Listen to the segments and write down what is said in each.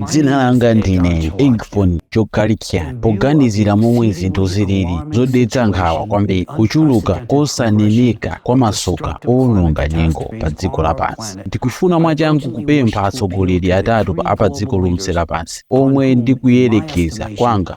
dzina langa ndine Egon Cholakian poganizira momwe zinthu zilili zodetsa nkhawa kwambiri kuchuluka kosaneneka kwa masoka owononga nyengo pa dziko lapansi ndikufuna mwachangu kupempha atsogoleri atatu apa dziko lonse lapansi omwe ndikuyerekeza kwanga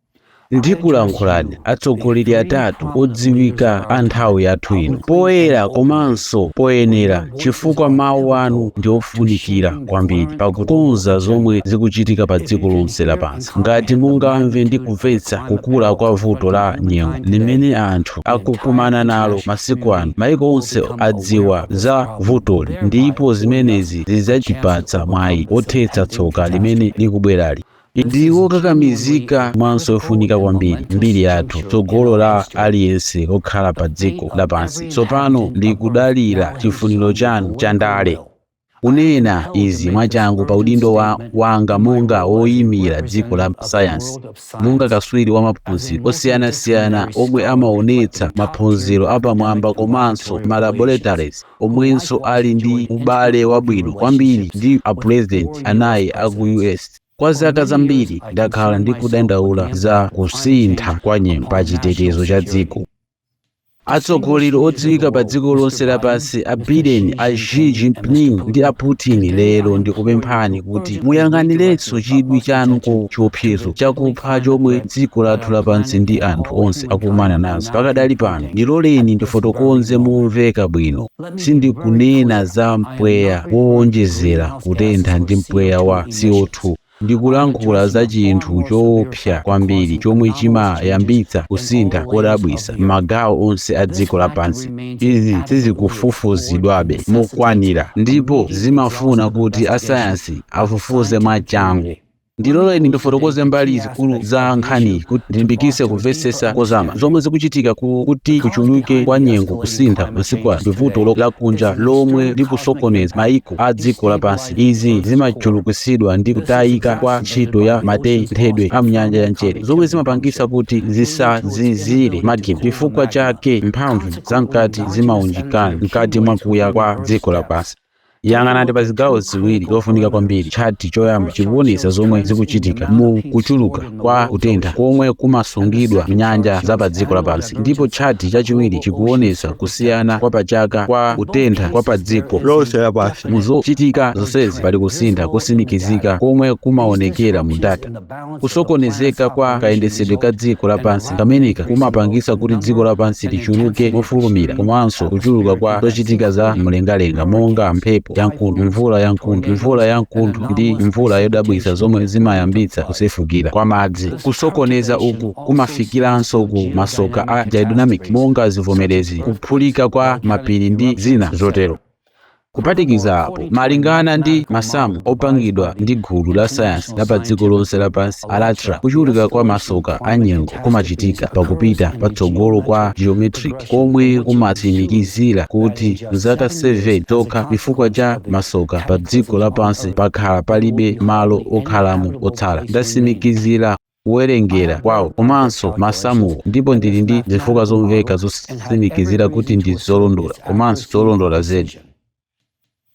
Ndikulankhulani atsogoleri atatu odziwika a nthawi yathu ino, poyera komanso poyenera chifukwa mawu anu ndi ofunikira kwambiri pakukonza zomwe zikuchitika pa dziko lonse lapansi. Ngati mungamve ndi kumvetsa kukula kwa vuto la nyengo limene anthu akukumana nalo masiku ano, maiko onse adziwa za vutoli ndipo zimenezi zidzatipatsa mwayi wothetsa tsoka limene likubwerali. ndi wokakamizika komanso yofunika kwambiri mbiri yathu tsogolo la aliyense okhala pa dziko lapansi tsopano likudalira chifuniro chanu cha ndale kunena izi mwachangu pa udindo wanga monga woyimira dziko la sayansi monga katswiri wa maphunziro osiyanasiyana omwe amaonetsa maphunziro apamwamba komanso malaboratories omwenso ali ndi ubale wabwino kwambiri ndi a pulezidenti anayi a ku us kwa zaka zambiri ndakhala ndikudandaula za kusintha kwa nyengo pa chitetezo cha dziko atsogoleri odziwika pa dziko lonse lapansi a biden a xi jinping ndi a putin lero ndikupemphani kuti muyang'anirenso chidwi chanu ku chiopsezo chakupha chomwe dziko lathu lapansi ndi anthu onse akukumana nazo pakadali pano Ndiloleni ndifotokoze momveka bwino, sindikunena za mpweya wowonjezera kutentha ndi mpweya wa CO2. Ndikulankhula za chinthu choopsa kwambiri chomwe chimayambitsa kusintha kodabwitsa m'magawo onse a dziko lapansi. Izi sizikufufuzidwabe mokwanira ndipo zimafuna kuti asayansi afufuze mwachangu. ndiloleni ndifotokoze mbali zikulu za nkhaniyi kuti ndilimbikitse kumvetsetsa kozama zomwe zikuchitika ku- kuti kuchuluke kwa nyengo kusintha masiku ano ndi vuto lo- lakunja lomwe likusokoneza maiko a dziko lapansi izi zimachulukitsidwa ndi kutayika kwa ntchito ya matenthedwe a mnyanja ya mchere zomwe zimapangitsa kuti zisazizire magma chifukwa chake mphamvu zamkati zimaunjikana mkati mwakuya kwa dziko lapansi yang'anani pa zigawo ziwiri zofunika kwambiri tchati choyamba chikuwonetsa zomwe zikuchitika mu kuchuluka kwa kutentha komwe kumasungidwa m'nyanja za pa dziko lapansi ndipo tchati chachiwiri chikuwonetsa kusiyana kwa pachaka kwa kutentha kwa pa dziko lonse lapansi mu zochitika zonsezi pali kusintha kotsimikizika komwe kumaonekera mu data kusokonezeka kwa kayendetsedwe ka dziko lapansi kameneka kumapangitsa kuti dziko lapansi lichuluke mofulumira komanso kuchuluka kwa zochitika za mlengalenga monga mphepo yamkuntho mvula yamkuntho mvula yamkuntho ndi mvula yodabwitsa zomwe zimayambitsa kusefukira kwa madzi kusokoneza uku kumafikiranso ku masoka a geodynamic monga zivomerezi kuphulika kwa mapiri ndi zina zotero Kuphatikiza apo, malingana ndi masamu opangidwa ndi gulu la sayansi la padziko lonse lapansi, Alatra, kuchuluka kwa masoka a nyengo kumachitika pa kupita patsogolo kwa geometric, komwe kumatsimikizira kuti m'zaka 7 zokha, chifukwa cha masoka padziko lapansi pakhala palibe malo okhalamo otsala. Ndatsimikizira. kuwerengera kwawo komanso masamuwo ndipo ndili ndi zifukwa zomveka zotsimikizira kuti ndi zolondola komanso zolondola zedi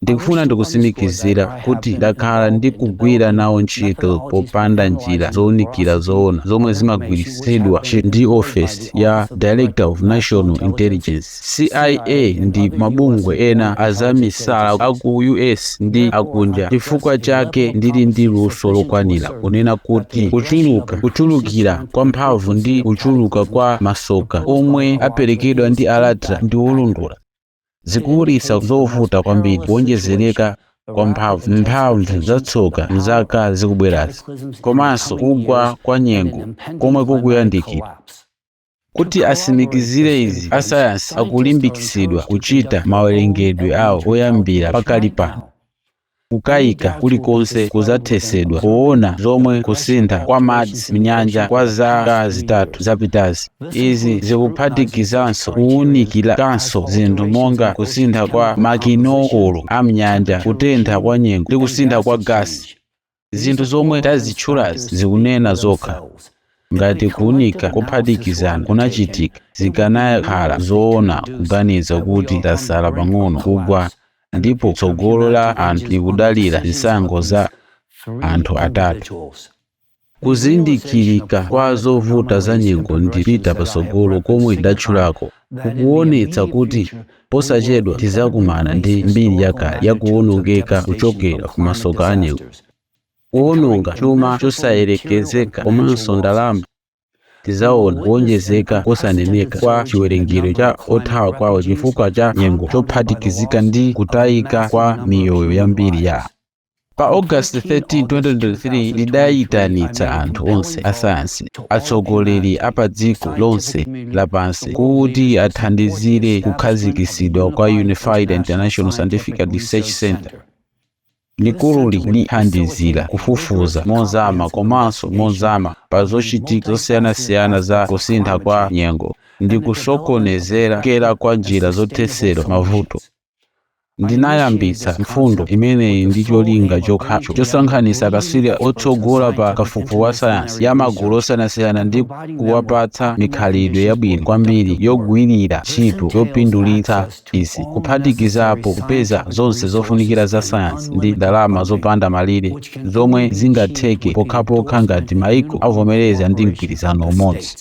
ndikufuna ndikutsimikizira kuti ndakhala ndikugwira nawo ntchito popanda njira zowunikira zoona zomwe zimagwiritsidwa ndi ofesi ya director of national intelligence CIA ndi mabungwe ena azamisala a ku US ndi akunja. Chifukwa chake ndili ndi luso lokwanira kunena kuti kuchulu, kuchulukira kwa mphamvu ndi kuchuluka kwa masoka omwe aperekedwa ndi Allatra ndi olondola. Zikuulutsa zovuta kwambiri kuwonjezereka kwa mphamvu, mphamvu za tsoka m'zaka zikubwerazi, komanso kugwa kwa nyengo komwe kukuyandikira. Kuti asimikizire izi, asayansi akulimbikitsidwa kuchita mawerengedwe awo oyambira pakali pano. Kukayika kulikonse kudzathetsedwa powona zomwe kusintha kwa madzi m'nyanja kwa zaka zitatu zapitazi. Izi zikuphatikizanso kuwunikiranso zinthu monga kusintha kwa makinokolo a m'nyanja, kutentha kwa nyengo, ndi kusintha kwa gasi. zinthu zomwe tazitchulazi zikunena zokha ngati kuunika kophatikizana kunachitika zikanakhala zoona kuganiza kuti tasala pang'ono kugwa ndipo tsogolo la anthu likudalira zisankho za anthu atatu kuzindikirika kwa zovuta za nyengo ndi kupita patsogolo komwe ndidatchulako kukuwonetsa kuti posachedwa tidzakumana ndi mbiri yakale yakuwonongeka kuchokera ku masoka anyengo, kuwononga chuma chosayerekezeka komanso ndalama. Tidzaona kuwonjezeka kosaneneka kwa chiwerengero cha othawa kwawo chifukwa cha nyengo chophatikizika ndi kutayika kwa miyoyo yambiri ya. Pa August 13, 2023, ndidaitanitsa anthu onse asayansi, atsogoleri a padziko lonse lapansi kuti athandizire kukhazikitsidwa kwa Unified International Scientific Research Center. Likululi lithandizira kufufuza mozama komanso mozama pa zochitika zosiyanasiyana za kusintha kwa nyengo ndi kusokonezera kukera kwa njira zothetsera mavuto. ndinayambitsa mfundo imeneyi ndi cholinga chokhacho chosonkhanitsa akatswiri otsogola pa kafukufuku wa sayansi ya magulu osiyanasiyana ndi kuwapatsa mikhalidwe yabwino kwambiri yogwirira ntchito yopindulitsa izi kuphatikizapo kupeza zonse zofunikira za sayansi ndi ndalama zopanda malire zomwe zingatheke pokhapokha ngati maiko avomereza ndi mgwirizano umodzi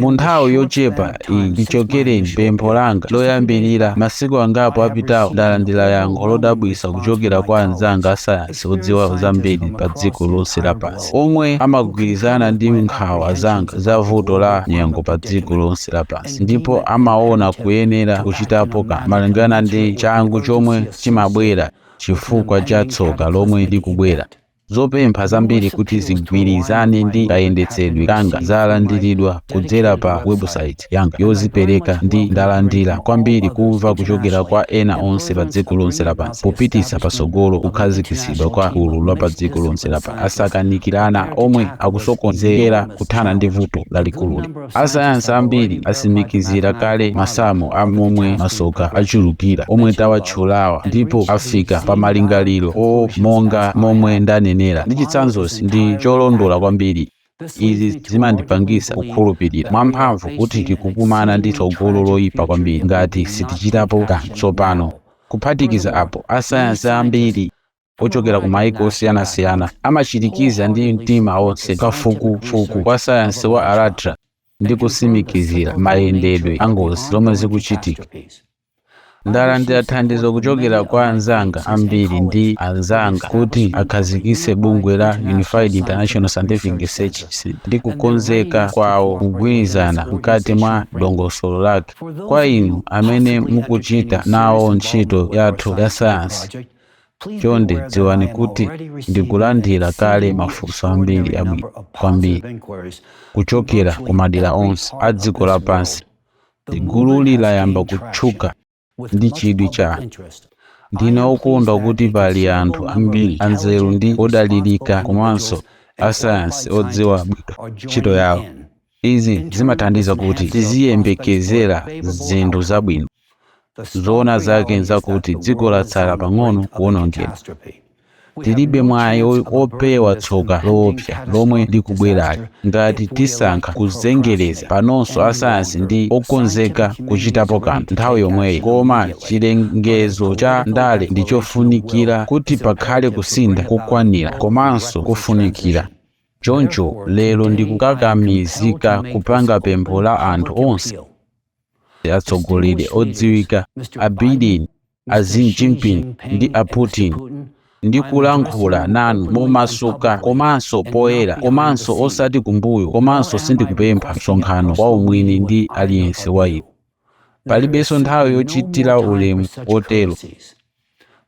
Mu nthawi yochepa iyi chichokereni pa pempho langa loyambirira masiku angapo apitawo, ndalandira yankho lodabwitsa kuchokera kwa anzanga asayansi odziwa zambiri padziko lonse lapansi, omwe amagwirizana ndi nkhawa zanga za vuto la nyengo padziko lonse lapansi ndipo amaona kuyenera kuchitapo kanthu malingana ndi changu chomwe chimabwera chifukwa cha tsoka lomwe likubwera. Zopempha zambiri kuti zigwirizane ndi kayendetsedwe kanga zalandiridwa kudzera pa webusaiti yanga yozipereka ndi ndalandira kwambiri kumva kuchokera kwa ena onse pa dziko lonse lapansi popititsa patsogolo kukhazikitsidwa kwa gulu la pa dziko lonse lapansi asakanikirana omwe akukonzekera kuthana ndi vuto lalikululi. asayansi ambiri asimikizira kale masamu a momwe masoka achulukira omwe tawatchulawa ndipo afika pa malingaliro monga momwe ndanenera ndi chitsanzochi ndi cholondola kwambiri izi zimandipangisa kukhulupirira mwamphamvu kuti tikukumana ndi tsogolo loyipa kwambiri ngati sitichitapo kanthu tsopano kuphatikiza apo asayansi ambiri ochokera ku maiko osiyanasiyana amachirikiza ndi mtima onse kafukufuku wa sayansi wa Allatra ndi kusimikizira mayendedwe a ngozi zomwe zikuchitika ndalandira thandizo kuchokera kwa anzanga ambiri ndi anzanga kuti akhazikitse bungwe la unified international scientific research Center ndi kukonzeka kwawo kugwirizana mkati mwa dongosolo lake kwa inu amene mukuchita nawo ntchito yathu ya sayansi Chonde dziwani kuti ndikulandira kale mafunso ambiri abwino kwambiri kuchokera ku madera onse a dziko lapansi. Gululi layamba kutchuka ndi chidwi cha anthu. Ndine wokondwa kuti pali anthu ambiri anzeru ndi odalirika komanso asayansi odziwa bwino ntchito yawo. Izi zimathandiza kuti tiziyembekezera zinthu zabwino. Zoona zake n'zakuti dziko latsala pang'ono kuwonongedwa. Tilibe mwayi wopewa tsoka loopsa lomwe likubwerali ngati tisankha kuzengereza. Panonso asayansi ndi okonzeka kuchitapo kanthu nthawi yomweyi. Koma chilengezo cha ndale ndi chofunikira kuti pakhale kusintha kokwanira komanso kofunikira. Choncho lero ndikukakamizika kupanga pempho la anthu onse, atsogoleri odziwika, a Biden, a Xi Jinping ndi a Putin, ndi kulankhula nanu momasuka komanso poyera komanso osati kumbuyo komanso sindikupempha msonkhano waumwini ndi aliyense wa iwo. palibenso nthawi yochitira ulemu wotero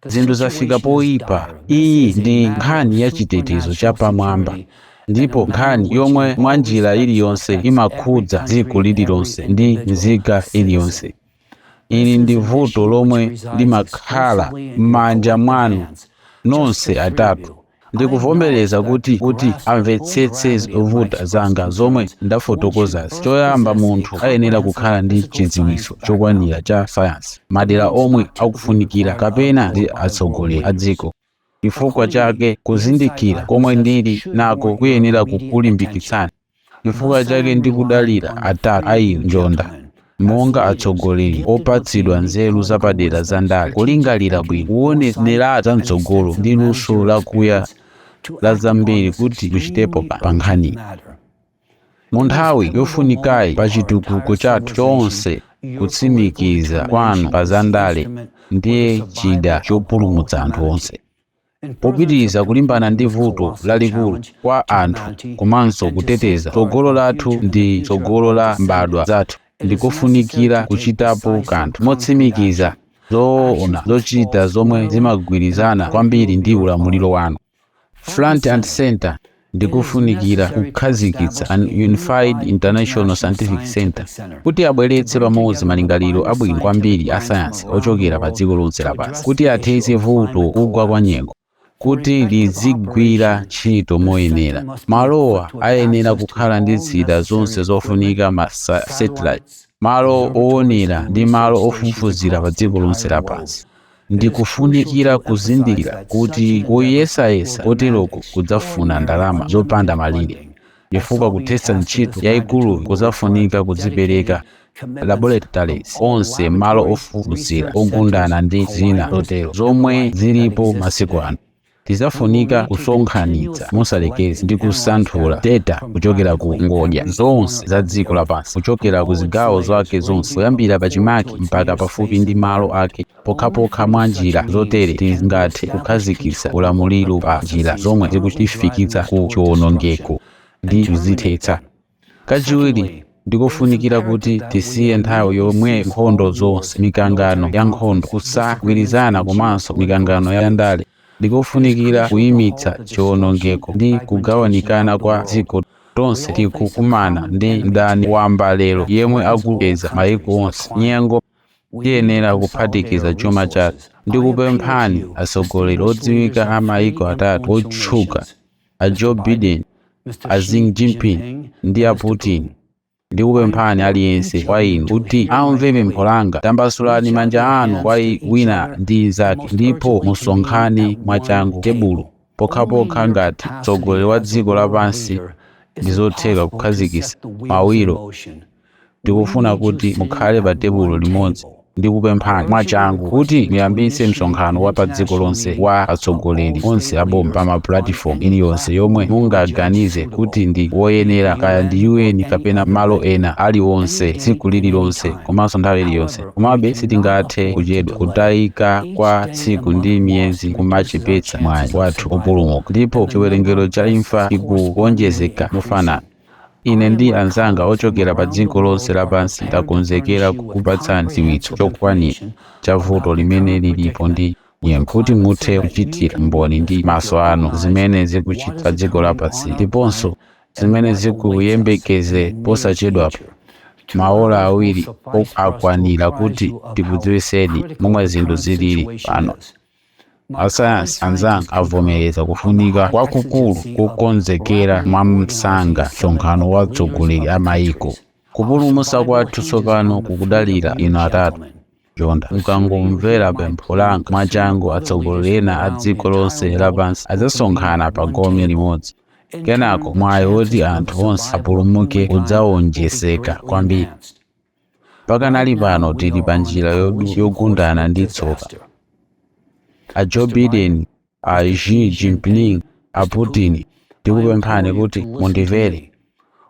zinthu zafika poyipa iyi ndi nkhani ya chitetezo chapamwamba ndipo nkhani yomwe mwa njira iliyonse imakhudza dziko lililonse ndi nzika iliyonse ili ndi vuto lomwe limakhala m'manja mwanu nonse atatu Ndikuvomereza kuti kuti amvetsetse zovuta zanga zomwe ndafotokozazi, choyamba munthu ayenera kukhala ndi chidziwitso chokwanira cha sayansi, madera omwe akufunikira, kapena ndi atsogoleri a dziko. Chifukwa chake kuzindikira komwe ndili nako kuyenera kukulimbikitsani. Chifukwa chake ndikudalira atatu a inu njonda monga atsogoleri opatsidwa nzeru zapadera za ndale, kulingalira bwino, kuonera za mtsogolo ndi luso lakuya la zambiri kuti muchitepo pa nkhaniyi. Mu nthawi yofunikayi pa chitukuko chathu chonse kutsimikiza kwanu pa zandale ndiye chida chopulumutsa anthu onse. Popitiriza kulimbana ndi vuto lalikulu kwa anthu komanso kuteteza tsogolo lathu ndi tsogolo la mbadwa zathu, ndi kofunikira kuchitapo kanthu motsimikiza zoona zochita zomwe zimagwirizana kwambiri ndi ulamuliro wanu. Front and Centre, ndikofunikira kukhazikitsa an unified international scientific center kuti abweretse pamodzi malingaliro abwino kwambiri a sayansi ochokera pa dziko lonse lapansi kuti athetse vuto kugwa kwa nyengo kuti lizigwira ntchito moyenera malowa ayenera kukhala ndi zida zonse zofunika ma satellite malo owonera ndi malo ofufuzira pa dziko lonse lapansi Ndi kofunikira kuzindikira kuti kuyesayesa koteroko kudzafuna ndalama zopanda malire, chifukwa kuthetsa ntchito yaikuluyi kudzafunika kudzipereka, laboratories onse, malo ofufuzira, ogundana, ndi zina zotero, zomwe ziripo masiku ano. Tidzafunika kusonkhanitsa mosalekeza ndi kusanthula deta kuchokera ku ngodya zonse za dziko lapansi, kuchokera ku zigawo zake zonse, kuyambira pachimake mpaka pafupi ndi malo ake. Pokhapokha mwa njira zotere tingathe kukhazikitsa ulamuliro pa njira zomwe zikutifikitsa ku chiwonongeko ndi kuzithetsa. Kachiwiri, ndikufunikira kuti tisiye nthawi yomwe nkhondo zonse, mikangano ya nkhondo, kusagwirizana komanso mikangano ya ndale, ndikufunikira kuimitsa chiwonongeko ndi kugawanikana kwa dziko. Tonse tikukumana ndi mdani wamba lero yemwe akupeza maiko onse. Nyengo tiyenera kuphatikiza chuma chathu. Ndikupemphani atsogoleri odziwika a maiko atatu otchuka. a Joe Biden, a Xi Jinping ndi a Putin, ndikupemphani aliyense wa inu kuti amve pempho langa. Tambasulani manja anu kwa wina ndi mnzake ndipo musonkhane mwachangu tebulo pokhapokha ngati mtsogoleri wa dziko lapansi ndi zotheka kukhazikitsa mawiro Ndikufuna kuti mukhale pa tebulo limodzi. Ndikupemphani mwachangu kuti muyambitse msonkhano wa padziko lonse wa atsogoleri onse a boma pa mapulatifomu iliyonse yomwe mungaganize kuti ndi woyenera, kaya ndi UN kapena malo ena aliwonse, tsiku lililonse komanso nthawi iliyonse. Komabe sitingathe kuchedwa. Kutayika kwa tsiku ndi miyezi kumachepetsa mwayi wathu wopulumuka, ndipo chiwerengero cha imfa chikuwonjezeka mofanana. Ine ndi anzanga ochokera padziko lonse lapansi takonzekera kukupatsani chidziwitso chokwanira cha vuto limene lilipo ndi nyengo, kuti muthe kuchitira umboni ndi maso anu zimene zikuchitikira dziko lapansi ndiponso zimene zikuyembekezera posachedwapa. Maola awiri akwanira kuti tikudziwitseni momwe zinthu zilili pano. asayansi anzanga avomereza kufunika kwakukulu kukonzekera mwamsanga msonkhano wa atsogoleri a mayiko kupulumutsa kwathu tsopano kukudalira inu atatu njonda mukangomvera pempho langa mwachangu atsogoleri ena a dziko lonse lapansi adzasonkhana pa gome limodzi kenako mwayi woti anthu onse apulumuke udzawonjezeka kwambiri Pakanali pano tili pa njira yodu- yogundana ndi tsoka. A Joe Biden, a Xi Jinping, a Putin, ndikupemphani kuti mundimvere.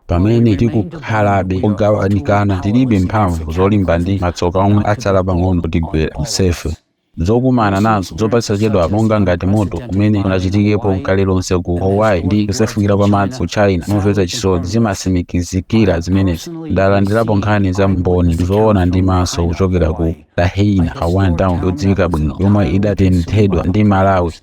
Pamene tikukhalabe ogawanikana, tilibe mphamvu zolimba ndi matsoka omwe atsala pang'ono kutigwera tonsefe. Zokumana nazo zaposachedwa, monga ngati moto umene unachitikepo n'kale lonse ku Hawaii ndi kusefukira kwa madzi ku China, momvetsa chisoni zimatsimikizira zimenezi. Ndalandirapo nkhani za Mboni zoona ndi maso kuchokera ku Lahaina, Hawaiian town yodziwika bwino yomwe idatenthedwa ndi malawi.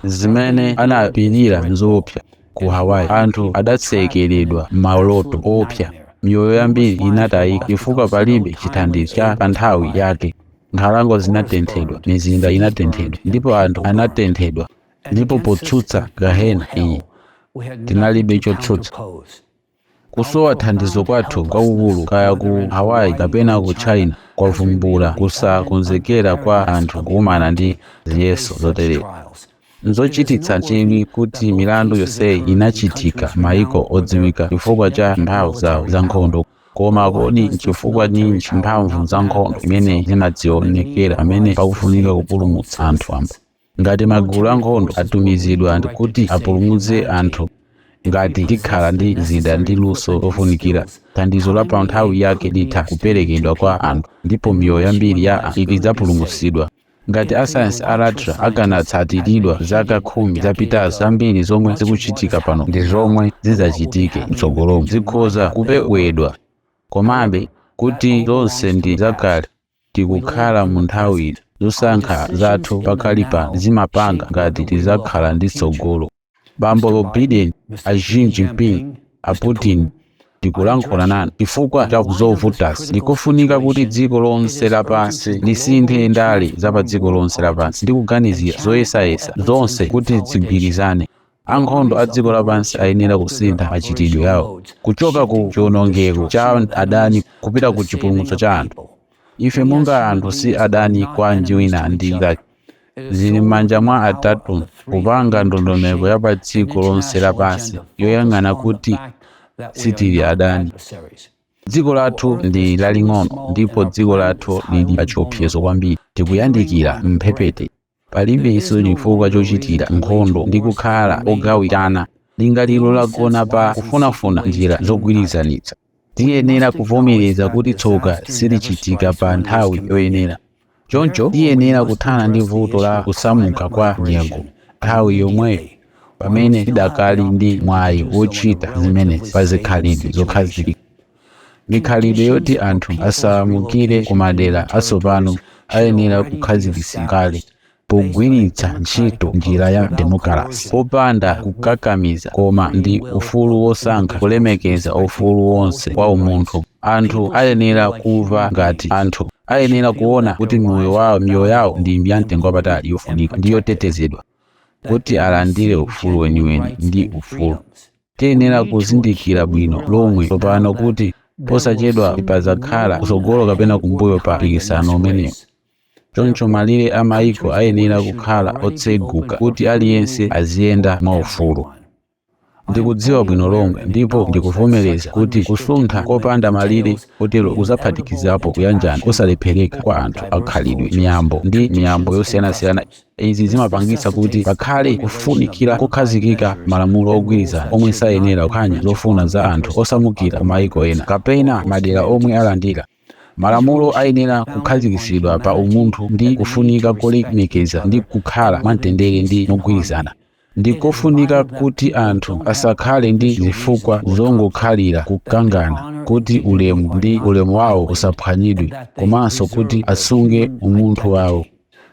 Zimene anapirira n'zoopsa. Ku Hawaii, anthu adatsekeredwa m'maloto oopsa, miyoyo yambiri inatayika chifukwa palibe chithandizo cha panthawi yake. Nkhalango zinatenthedwa, mizinda inatenthedwa, ndipo anthu anatenthedwa. Ndipo potsutsa Gahena iyi, tinalibe chotsutsa. Kusowa thandizo kwathu kwakukulu, kaya ku Hawaii kapena ku China, kwavumbula kusakonzekera kwa anthu kukumana ndi ziyeso zoterezi. Nzochititsa chidwi kuti milandu yonseyi inachitika m'mayiko odziwika chifukwa cha mphamvu zawo zankhondo. Koma kodi nchifukwa ninji mphamvu za nkhondo imene sizinadzionekera pamene pakufunika kupulumutsa anthu wamba? Ngati magulu ankhondo atumizidwa kuti apulumutse anthu, ngati tikhala ndi zida ndi luso lofunikira, thandizo la panthawi yake litha kuperekedwa kwa anthu, ndipo miyoyo yambiri ya anthu idzapulumutsidwa. Ngati asayansi a Allatra akanatsatiridwa zaka khumi zapitazo, zambiri zomwe zikuchitika pano ndi zomwe zidzachitike mtsogolomu zikhoza kupewedwa. Komabe, kuti zonse ndi zakale, tikukhala mu nthawi. Zosankha zathu pakali pano zimapanga ngati tidzakhala ndi tsogolo. bambo Biden, a Jinping, a Putin tikulankhula nanu chifukwa cha zovutasi. Ndikofunika kuti dziko lonse lapansi lisinthe ndale za pa dziko lonse lapansi ndi kuganizira zoyesayesa zonse kuti zigwirizane. Ankhondo a dziko lapansi ayenera kusintha machitidwe yawo kuchoka ku chiwonongeko cha adani kupita ku chipulumutso cha anthu. Ife monga anthu si adani kwa wina ndi mnzake. Zili m'manja mwa atatu kupanga ndondomeko ya padziko lonse lapansi yoyang'ana kuti sitili adani. Dziko lathu ndi laling'ono ndipo dziko lathu lili pachiopsezo kwambiri. Tikuyandikira mphepete. Palibenso chifukwa chochitira nkhondo ndi kukhala ogawikana. Lingaliro lagona pa kufunafuna njira zogwirizanitsa. tiyenera kuvomereza kuti tsoka silichitika pa nthawi yoyenera choncho tiyenera kuthana ndi vuto la kusamuka kwa nyengo nthawi yomweyo pamene tidakali ndi mwayi wochita zimenezi pa zikhalidwe zokhazikika mikhalidwe yoti anthu asamukire ku madera atsopano ayenera kukhazikitsidwa kale pogwiritsa ntchito njira ya demokalasi popanda kukakamiza koma ndi ufulu wosankha kulemekeza ufulu wonse wa umunthu anthu ayenera kumva ngati anthu ayenera kuona kuti moyo wawo miyoyo yawo ndi ya mtengo wapatali yofunika ndi yotetezedwa kuti alandire ufulu weniweni ndi ufulu tiyenera kuzindikira bwino lomwe tsopano kuti posachedwa padzakhala kutsogolo kapena kumbuyo pa mpikisano umenewu Choncho malire a mayiko ayenera kukhala otseguka kuti aliyense aziyenda mwaufulu. Ndikudziwa bwino lomwe ndipo ndikuvomereza kuti kusuntha kopanda malire kotero kudzaphatikizapo kuyanjana kosalephereka kwa anthu a khalidwe, miyambo, ndi miyambo yosiyanasiyana. Izi zimapangitsa kuti pakhale kufunikira kukhazikika malamulo ogwirizana omwe sayenera kuphwanya zofuna za anthu osamukira ku mayiko ena kapena madera omwe alandira. Malamulo ayenera kukhazikitsidwa pa umunthu ndi kufunika kolemekeza ndi kukhala mwamtendere ndi mogwirizana. Ndi kofunika kuti anthu asakhale ndi zifukwa zongokhalira kukangana, kuti ulemu ndi ulemu wawo usaphwanyidwe, komanso kuti asunge umunthu wawo.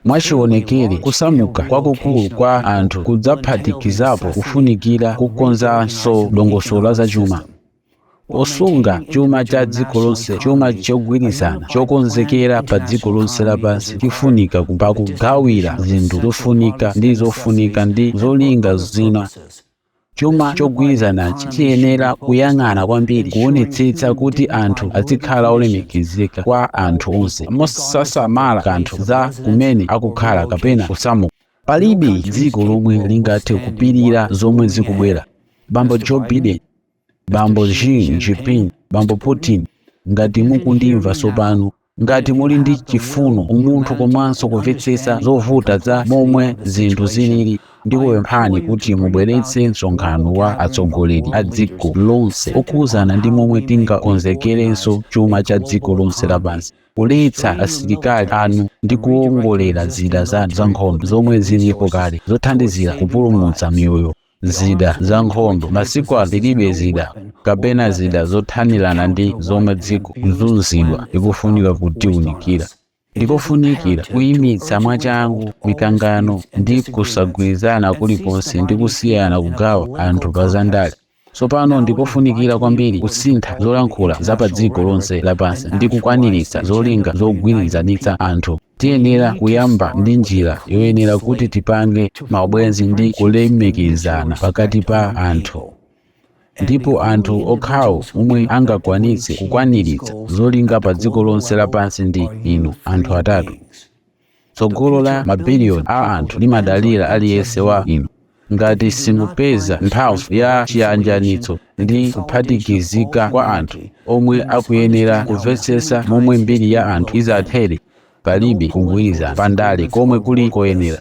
Mwachionekere, kusamuka kwakukulu kwa anthu kudzaphatikizapo kufunikira kukonzanso dongosolo la zachuma. osunga chuma cha dziko lonse chuma chogwirizana chokonzekera pa dziko lonse lapansi chifunika pa kugawira zinthu zofunika ndi zofunika ndi zolinga zina chuma chogwirizanachi chiyenera kuyang'ana kwambiri kuonetsetsa kuti anthu azikhala olemekezeka kwa anthu onse mosasamala kanthu za kumene akukhala kapena kusamuka palibe dziko lomwe lingathe kupirira zomwe zikubwera bambo joe biden bambo Xi Jinping, bambo Putin, ngati mukundimva tsopano, ngati muli ndi chifuno, umunthu komanso kumvetsetsa zovuta za momwe zinthu zilili, ndikupemphani kuti mubweretse msonkhano wa atsogoleri a dziko lonse okhudzana ndi momwe tingakonzekerenso chuma cha dziko lonse lapansi, kuletsa asilikali anu ndi kuwongolera zida zanu zankhondo zomwe zilipo kale zothandizira kupulumutsa miyoyo. zida za nkhondo masiku ano tilibe zida kapena zida zothanirana ndi zomwe dziko kuzunzidwa likufunika kutiunikira ndikofunikira kuyimitsa mwachangu mikangano ndi kusagwirizana kulikonse ndi kusiyana kugawa anthu pa zandale tsopano ndikofunikira kwambiri kusintha zolankhula za pa dziko lonse lapansi ndi kukwaniritsa zolinga zogwirizanitsa anthu Tiyenera kuyamba ndi njira yoyenera kuti tipange maubwenzi ndi kulemekizana pakati pa anthu. Ndipo anthu okhawo omwe angakwanitse kukwaniritsa zolinga pa dziko lonse lapansi ndi inu anthu atatu. Tsogolo la mabiliyoni a anthu limadalira aliyense wa inu. Ngati simupeza mphamvu ya chiyanjanitso ndi kuphatikizika kwa anthu omwe akuyenera kumvetsetsa momwe mbiri ya anthu idzathere, palibe kugwirizana pa ndale komwe kuli koyenera.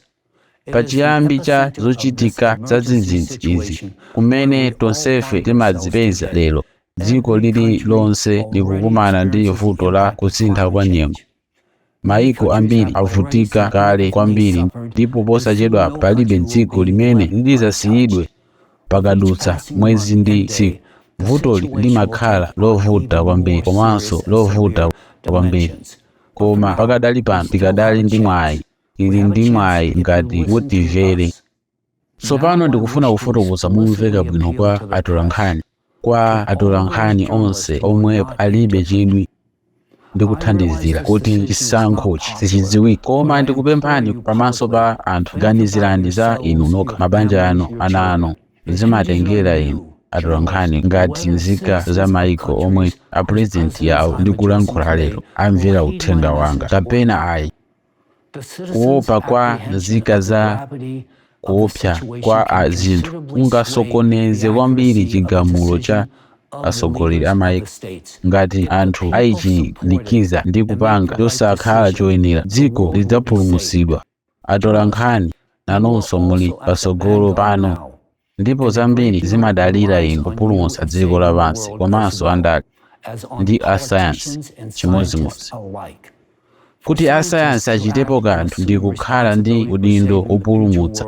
Pachiyambi cha zochitika zadzidzidzi izi kumene tonsefe timadzipeza lero, dziko lili lonse likukumana ndi vuto la kusintha kwa nyengo. Mayiko ambiri avutika kale kwambiri ndipo posachedwa palibe dziko limene lidzasiyidwe pakadutsa mwezi ndi tsiku. Vutoli limakhala lovuta kwambiri komanso lovuta kwambiri. Koma pakadali pano tikadali ndi mwayi. Tili ndi mwayi ngati mutimvere. tsopano ndikufuna kufotokoza momveka bwino kwa atolankhani kwa atolankhani onse omwe alibe chidwi ndi kuthandizira kuti chisankhochi sichidziwike koma ndikupemphani pamaso pa anthu ganizirani za inu nokha mabanja anu ana anu zimatengera inu atolankhani ngati nzika za maiko omwe apurezidenti yawo ndikulankhula lero amvera uthenga wanga kapena ayi kuopa kwa nzika za kuopsa kwa zinthu kungasokoneze kwambiri chigamulo cha atsogoleri a maiko ngati anthu ayichilikiza ndi kupanga chosakhala choyenera dziko lidzapulumutsidwa atolankhani nanonso muli patsogolo pano Ndipo zambiri zimadalira inu kupulumutsa dziko lapansi komanso andale ndi asayansi chimodzimodzi. Kuti asayansi achitepo kanthu ndi kukhala ndi udindo wopulumutsa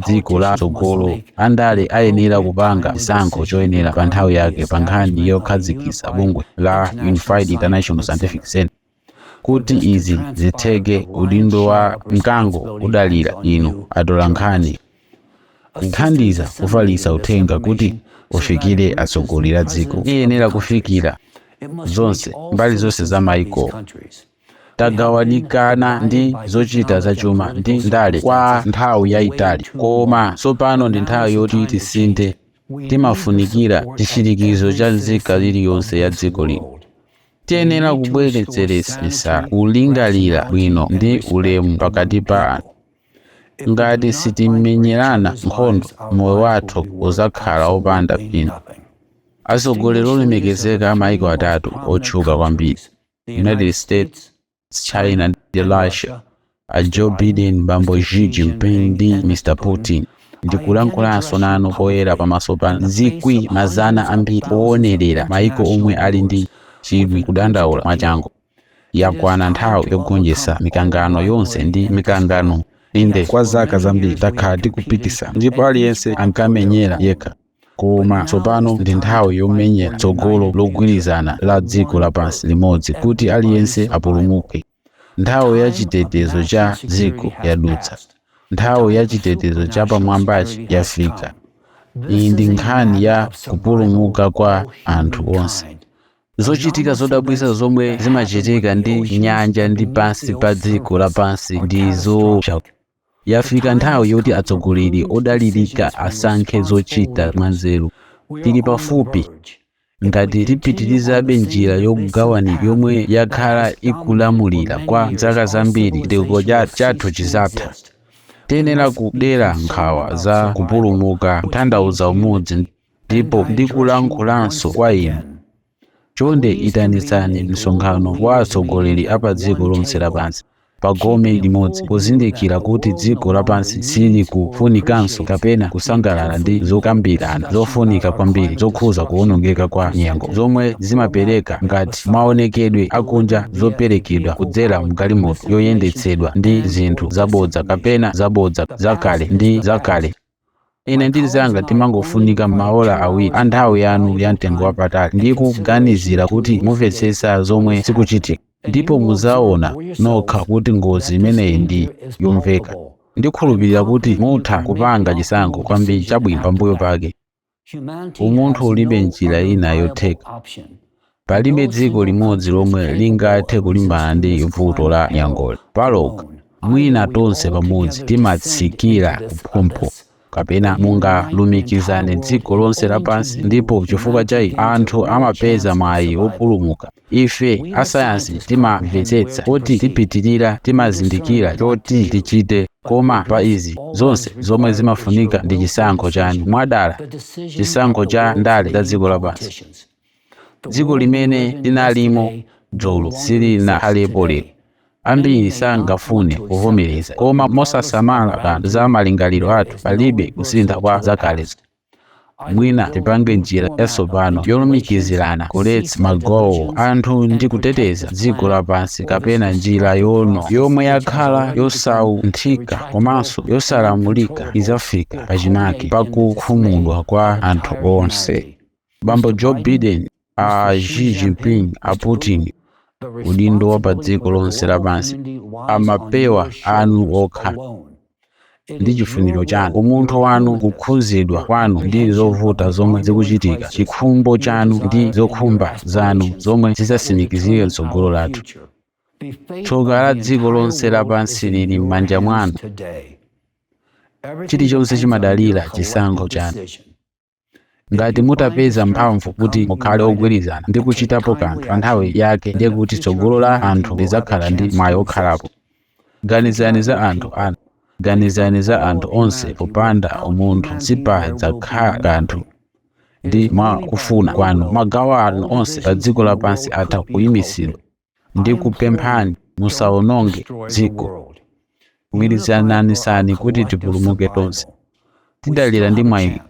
dziko la tsogolo, andale ayenera kupanga chisankho choyenera pa nthawi yake pa nkhani yokhazikitsa bungwe la Unified International Scientific Centre. Kuti izi zitheke, udindo wa mkango udalira inu atolankhani kuthandiza kufalitsa uthenga kuti ufikire atsogoleri a dziko. Iyenera kufikira zonse, mbali zonse za maiko. Tagawanikana ndi zochita zachuma ndi ndale kwa nthawi yaitali, koma tsopano ndi nthawi yoti tisinthe. Timafunikira chitsimikizo cha nzika iliyonse ya dziko lino. Tiyenera kubweretseresisa kulingalira bwino ndi ulemu pakati pa anthu. Ngati sitimenyerana nkhondo, moyo wathu udzakhala wopanda phindu. Atsogoleri olemekezeka a maiko atatu otchuka kwambiri, United States, China ndi Russia, a Joe Biden, bambo Xi Jinping ndi Mr Putin ndikulankhulanso nanu poyera pamaso pa zikwi mazana ambiri owonerera maiko omwe ali ndi chidwi kudandaula mwachangu. Yakwana nthawi yogonjetsa mikangano yonse ndi mikangano. Inde, kwa zaka zambiri takhala tikupitisa ndipo aliyense ankamenyera yekha. Koma tsopano ndi nthawi yomenyera tsogolo logwirizana la dziko lapansi limodzi kuti aliyense apulumuke. Nthawi ya chitetezo cha dziko yadutsa. Nthawi ya chitetezo chapamwambachi yafika. Iyi ndi nkhani ya kupulumuka kwa anthu onse. Zochitika zodabwitsa zomwe zimachitika ndi nyanja ndi pansi pa dziko lapansi ndi zoopsa. Yafika nthawi yoti atsogoleri odalirika asankhe zochita mwanzeru. Tili pafupi. Ngati tipitirizabe njira yokugawanika yomwe yakhala ikulamulira kwa zaka zambiri, chitukuko chathu chidzatha. Tiyenera kudera nkhawa za kupulumuka, kutanthauza umodzi, ndipo ndikulankhulanso kwa inu. Chonde itanitsani msonkhano wa atsogoleri a padziko lonse lapansi pa gome limodzi, kuzindikira kuti dziko lapansi silikufunikanso kapena kusangalala ndi zokambirana zofunika kwambiri zokhuza kuwonongeka kwa nyengo, zomwe zimapereka ngati maonekedwe akunja zoperekedwa kudzera m'galimoto yoyendetsedwa ndi zinthu zabodza kapena zabodza zakale ndi zakale. ine ndi anzanga timangofunika maola awiri a nthawi yanu ya mtengo wapatali ndi kuganizira kuti mumvetsetsa zomwe zikuchitika ndipo muzaona nokha kuti ngozi imeneyi ndi yomveka ndikhulupirira kuti mutha kupanga chisankho kwambiri chabwino pambuyo pake Umunthu ulibe njira ina yotheka. Palibe dziko limodzi lomwe lingathe kulimbana ndi vuto la nyengoli palokha. Mwina tonse pamodzi timatsikira kuphompho, kapena mungalumikizane dziko lonse lapansi ndipo chifukwa cha ichi anthu amapeza mwayi wopulumuka. Ife asayansi timamvetsetsa kuti tipitirira timazindikira choti tichite, koma pa izi zonse zomwe zimafunika ndi chisankho chanu, mwadala, chisankho cha ndale za dziko lapansi. Dziko limene linalimo dzulo silinakhalepo lero. Ambiri sangafune kuvomereza, koma mosasamala kanthu za malingaliro athu, palibe kusintha kwa zakalezo. mwina tipange njira yatsopano yolumikizirana kuletsa magawo anthu ndi kuteteza dziko lapansi kapena njira ino yomwe yakhala yosaunthika komanso yosalamulika idzafika pachimake pakukhumudwa kwa anthu onse bambo joe biden a xi jinping a putin udindo wa pa dziko lonse lapansi pa mapewa anu okha ndi chifuniro chanu umunthu wanu kukhudzidwa kwanu ndi zovuta zomwe zikuchitika chikhumbo chanu ndi zokhumba zanu zomwe zidzatsimikizire mtsogolo lathu tsoka la dziko lonse lapansi lili m'manja mwanu chilichonse chimadalira chisankho chanu ngati mutapeza mphamvu kuti mukhale ogwirizana ndi kuchitapo kanthu pa nthawi yake ndiye kuti tsogolo la anthu lidzakhala ndi mwayi wokhalapo ganizani za anthu anu ganizani za anthu onse popanda umunthu sipadzakhala kanthu ndi mwa kufuna kwanu magawo anu onse pa dziko lapansi atha kuyimitsidwa ndikupemphani musawononge dziko gwirizananisani kuti tipulumuke tonse tidakali ndi mwayi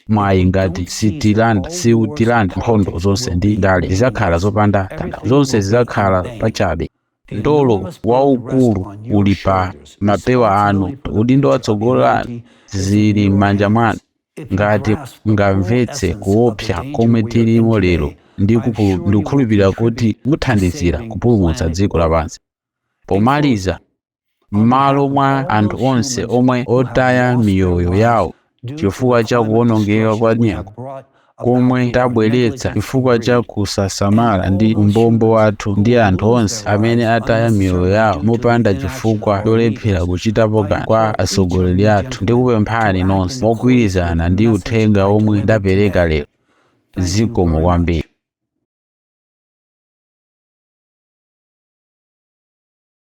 mwayi ngati sitilanda siutilanda nkhondo zonse ndi ndale zidzakhala zopanda tanthauzo zonse zidzakhala pachabe mtolo waukulu uli pa mapewa anu udindo watsogolo lanu zili m'manja mwanu Ngati mungamvetse kuopsa komwe tilimo lero, ndikukhulupirira kuti muthandizira kupulumutsa dziko lapansi. Pomaliza, mmalo mwa anthu onse omwe ataya miyoyo yawo chifukwa cha kuwonongeka kwa nyengo komwe tabweretsa chifukwa cha kusasamala ndi umbombo wathu, ndi anthu onse amene ataya miyoyo yawo mopanda chifukwa cholephera kuchitapo kanthu kwa atsogoleri athu, Ndikupemphani nonse mugwirizane ndi uthenga omwe ndapereka lero. Zikomo kwambiri.